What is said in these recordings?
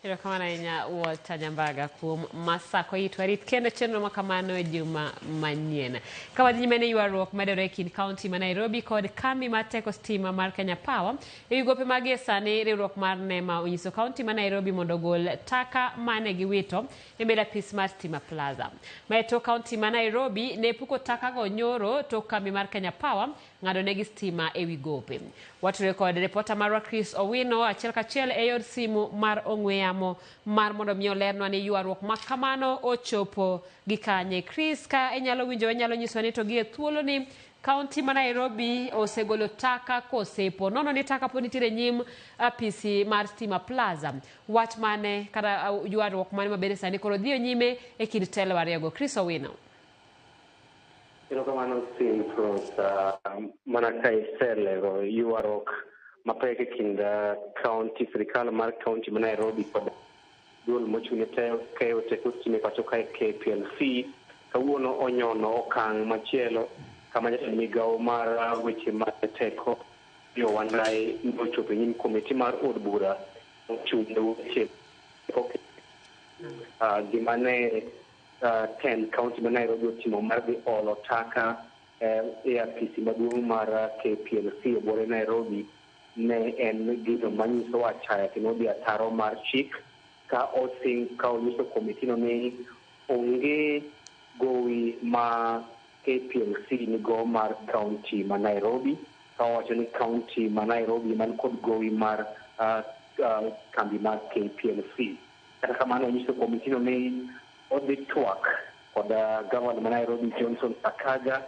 Erokamano ahinya Walter Nyambaga kuom masako it warit kendo chenro ma kamano e juma manyien. Ka wadhi nyime ne ywaruok medore e kind kaunti ma Nairobi kod kambi mar teko stima mar Kenya Power e wi gope magie sani riwruok mar NEMA onyiso kaunti ma Nairobi mondo ogol taka mane giwito e mbele apis mar Stima Plaza. Ma e tok kaunti ma Nairobi ne puko takago nyoro tok kambi mar Kenya Power ng'adonegi stima e wi gope. Watudore kod ripota marwa Chris Owino achiel kachiel e yor simu mar ong'we yamo mar mondo mi olernwa ni ywaruok ma kamano ochopo gi kanye. Chris, ka inyalo winjo inyalo nyiswa ni to gi e thuoloni kaunti ma Nairobi osegolo taka kosepo nono ni taka pod nitiere nyim apisi mar Stima Plaza. Wach mane kata uh, ywaruok mane mabende sani koro dhiyo nyime e kind telo ariyogo. Chris Owino. Erokamano Steve Cruz. Uh, mana ka iselero ywaruok mapek e kind uh, county sirikal mar county ma Nairobi kod duol mochung'ne keyo teko stima e pacho kae KPLC kawuono onyono okang' machielo kama jatend migawo mar uh, weche mag teko yo Wandayi nochopo e nyim komiti mar od bura mochung'ne weche gima ne 10 uh, kaunti ma Nairobi otimo mar dhi olo taka eh, e apisi maduong' mar uh, KPLC e bore Nairobi ne en gino manyiso achaya kendo odhi ataro mar chik ka osing ka onyiso komitino ni onge gowi ma KPLC nigo mar kaunti ma Nairobi ka owacho ni kaunti ma Nairobi man kod gowi mar uh, uh, kambi mar KPLC. Kata kamano onyiso komitino ni odhi twak kod gavana ma Nairobi Johnson Sakaja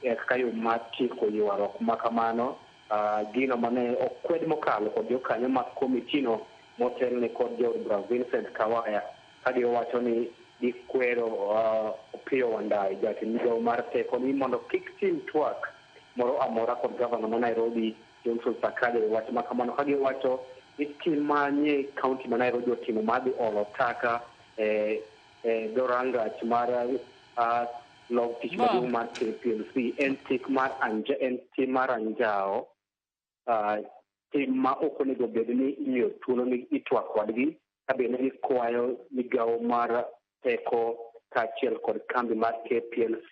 e kaka yo mar tieko ywaruok ma kamano. Uh, gino mane okwed mokalo kod jokanyo mag komitino motelne kod Jood Bura Vincent Kawaya ka giwacho ni gikwero uh, Opiyo Wandayi jatend migawo mar teko ni mondo kik tim twak moro amora kod gavana ma Nairobi Johnson Sakaja owacho ma kamano ka giwacho ni tim ma nie kaunti ma Nairobi otimo mar dhi olo taka e e dho rangach mar ah, log tich Ma'am. maduong' mar KPLC en tik mar anja, en tim mar anjawo ah, tim ma ok onego bed ni imiyo thuolo ni itwak kodgi ka be ne gikwayo migawo mar teko kaachiel kod kambi mar KPLC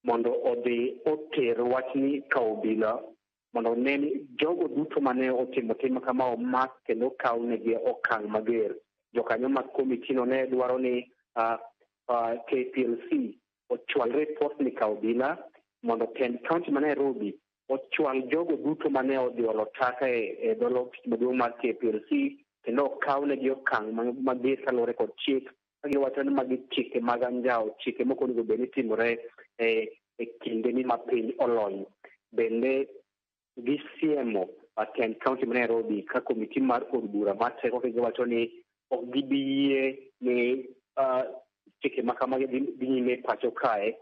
mondo odhi oter wachni ka obila mondo one ni jogo duto mane otimo tim kama omak kendo okaw negi okang' mager. Jokanyo mag komitino ne dwaro ni uh, uh, KPLC ochwal ripot ni ka obila mondo tend kaunti ma Nairobi ochwal jogo duto mane odhi olo taka e, e dolo maduong' mar KPLC kendo okaw negi okang' mager kaluwore kod chik kagiwacho ni magi chike mag anjawo chike moko onego bed ni timore e, e kinde ni ma piny olony bende gisiemo Aten County ma Nairobi ka komiti mar od bura ma teko giwacho ni ok gibi yie ni chike ma kamagi dhi nyime pacho kae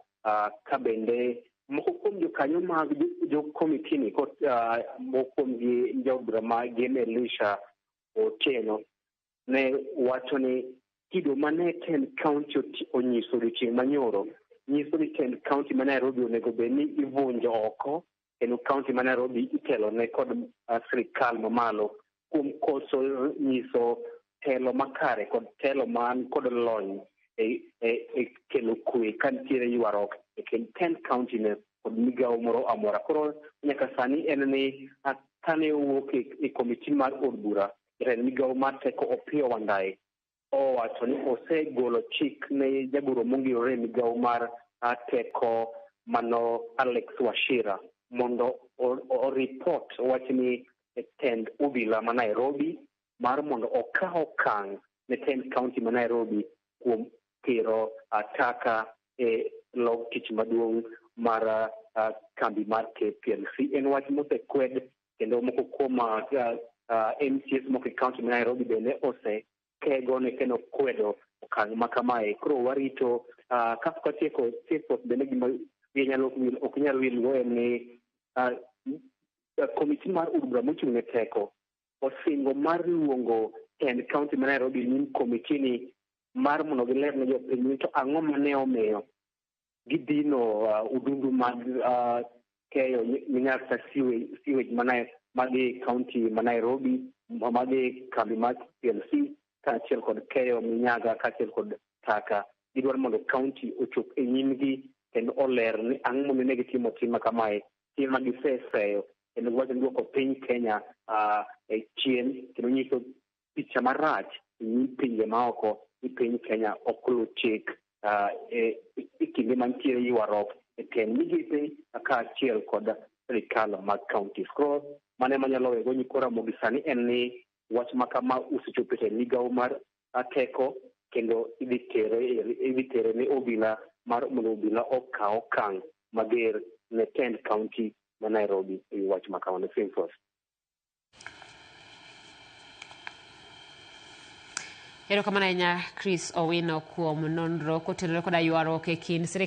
ka bende moko kuom jokanyo mag jokomitini moko kuomgi jaod bura ma Gen Elisha Otieno ne wacho ni kido mane Kent County onyiso odiochieng' manyoro nyiso ni Kent County ma Nairobi onego bed ni ivunjo oko kendo county ma Nairobi itelo ne kod uh, sirikal mamalo kuom koso nyiso telo makare kod telo man kod lony e, e, e kelo kwe ka nitiere ywaruok e kind Kent County ne kod migawo moro amora. Koro nyaka sani en ni kane owuok e, e komiti mar od bura jatend migawo mar teko Opiyo Wandayi owacho ni osegolo chik ne jagoro mongirore e migawo mar ah, teko mano Alex Washira mondo o- o- oripot wachni e tend obila ma Nairobi mar mondo okaw okang' ne tend kaunti ma Nairobi kuom tero ah, taka e log tich maduong' mar ah, kambi mar KPLC. En wach mosekwed kendo moko kuom uh, uh, MCS moko e kaunti ma Nairobi bende ose kego ne kendo kwedo okang' ma kamae. Koro warito uh, ka pok watieko Chepos bende gima ok nyal wilgo en ni uh, komiti mar od bura mochung' ne teko osingo mar luongo tend kaunti ma Nairobi ni komitini mar mondo giler ne jopiny ni to ang'o ma ne omiyo gidhino uh, udundu mag uh, keyo minyasa sewage, sewage mana magi kaunti ma Nairobi magi kambi mar PLC kaachiel kod keyo minyaga kaachiel kod taka gidwaro mondo kaunti ochop e nyimgi kendo oler ni ang'o momiyo ne gitimo tima kamae tima giseseyo kendo giwacho ni duoko piny Kenya uh, e chien kendo nyiso picha marach e nyim pinje maoko ni piny Kenya ok luw chik ah, e e kinde mantiere ywaruok e tend migepe kaachiel kod sirikal mag counties. Koro mano ema nyalo wego nyikwa Ramogi sani en ni wach ma kama osechopo e migawo mar ah, teko kendo idhi tere e- idhi tere ne obila mar mondo obila okaw okang' mager ne tend county ma Nairobi e wi wach ma kamano. Simfos. Erokamano ahinya Chris Owino kuom nonro kotenore koda ywaruok e kind sirkal